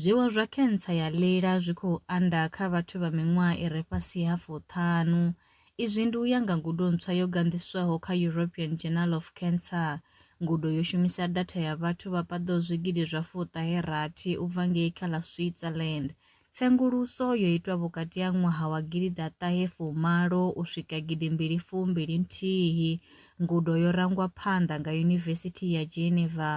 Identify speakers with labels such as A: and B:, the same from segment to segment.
A: Zwiwo zwa khentsa ya ḽila zwi khou anda kha vhathu vha miṅwaha i re fhasi ha fuṱhanu. Izwi ndi u ya nga ngudo ntswa yo ganḓiswaho kha European Journal of Cancer. Ngudo yo shumisa datha ya vhathu vha paḓaho zwigidi zwa fuṱahe rathi u bva ngei kha ḽa Switzerland. Tsenguluso yo itwa vhukati ha ṅwaha wa gidi ḓa ṱahe fumi malo u swika gidi mbili fumi mbili nthihi. Ngudo yo rangwa phanḓa nga Yunivesithi ya Geneva.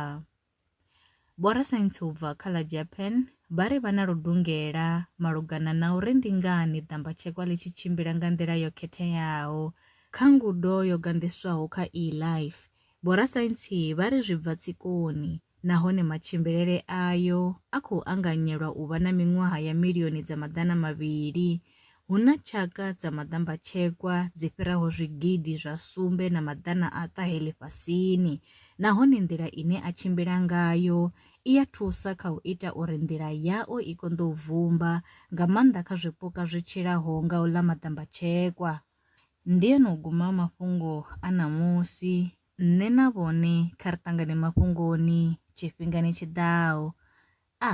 A: Vhorasaintsi u bva kha ḽa Japan vha ri vha na ludungela malugana na uri ndi ngani ḓambatshekwa ḽi tshi tshimbila nga nḓila yo khetheaho. Kha ngudo yo ganḓiswaho kha eLife, vhorasaintsi vha ri zwi bva tsikoni nahone matshimbilele ayo a khou anganyelwa u vha na miṅwaha ya milioni dza maḓana mavhili. Hu na tshaka dza maḓambatshekwa dzi fhiraho zwigidi zwa sumbe na maḓana a ṱahe ḽifhasini, nahone nḓila ine a tshimbila ngayo i ya thusa kha u ita uri nḓila yao i konḓe u vumba, nga maanḓa kha zwipuka zwi tshilaho nga u ḽa maḓambatshekwa. Ndi a no guma mafhungo a ṋamusi. Nṋe na vhone kha ri ṱangane mafhungoni tshifhingani tshi ḓaho. A.